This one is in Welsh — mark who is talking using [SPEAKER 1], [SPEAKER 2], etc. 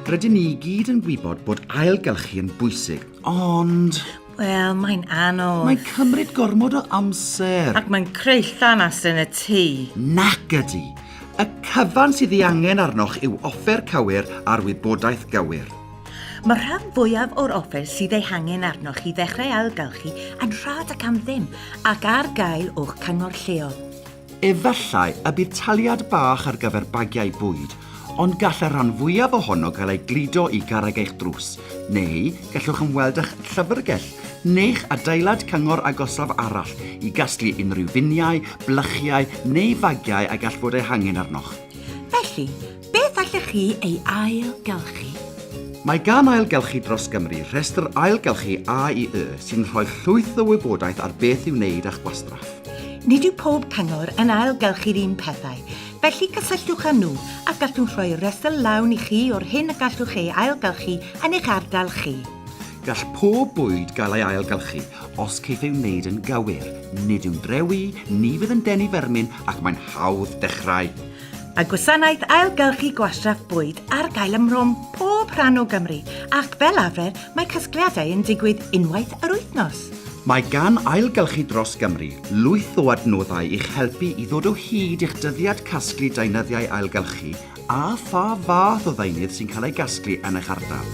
[SPEAKER 1] Rydyn ni i gyd yn gwybod bod ailgylchu yn bwysig, ond... Wel, mae'n
[SPEAKER 2] anodd. Mae'n cymryd gormod
[SPEAKER 1] o amser. Ac mae'n creu
[SPEAKER 2] llanas yn y tŷ. Nac ydy.
[SPEAKER 1] Y cyfan sydd ei angen arnoch yw offer cywir a'r wybodaeth gywir. Mae'r rhan
[SPEAKER 2] fwyaf o'r offer sydd ei hangen arnoch i ddechrau ailgylchu yn rhad ac am ddim ac ar gael o'ch cyngor lleol. Efallai
[SPEAKER 1] y bydd taliad bach ar gyfer bagiau bwyd, ond gall y rhan fwyaf ohono gael ei gludo i garreg eich drws, neu gallwch ymweld â'ch llyfrgell neu'ch adeilad cyngor agosaf arall i gasglu unrhyw finiau, blychiau neu fagiau a gall fod eu hangen arnoch. Felly,
[SPEAKER 2] Beth allech chi ei ailgylchu? Mae
[SPEAKER 1] gan Ailgylchu Dros Gymru rhestr ailgylchu AIY sy'n rhoi llwyth o wybodaeth ar beth i'w wneud â'ch gwastraff. Nid yw pob
[SPEAKER 2] cyngor yn ailgylchu'r un pethau, felly cysylltwch â nhw a gallwn rhoi rhestr lawn i chi o'r hyn y gallwch ei ailgylchu yn eich ardal chi. Gall pob
[SPEAKER 1] bwyd gael ei ailgylchu, os caiff ei wneud yn gywir. Nid yw'n drewi, ni fydd yn denu fermin ac mae'n hawdd dechrau. Mae gwasanaeth
[SPEAKER 2] ailgylchu gwastraff bwyd ar gael ym mhrom pob rhan o Gymru ac fel arfer mae casgliadau yn digwydd unwaith yr wythnos. Mae gan
[SPEAKER 1] Ailgylchu Dros Gymru lwyth o adnoddau i'ch helpu i ddod o hyd i'ch dyddiad casglu deunyddiau ailgylchu a pha fath o ddeunydd sy'n cael ei gasglu yn eich ardal.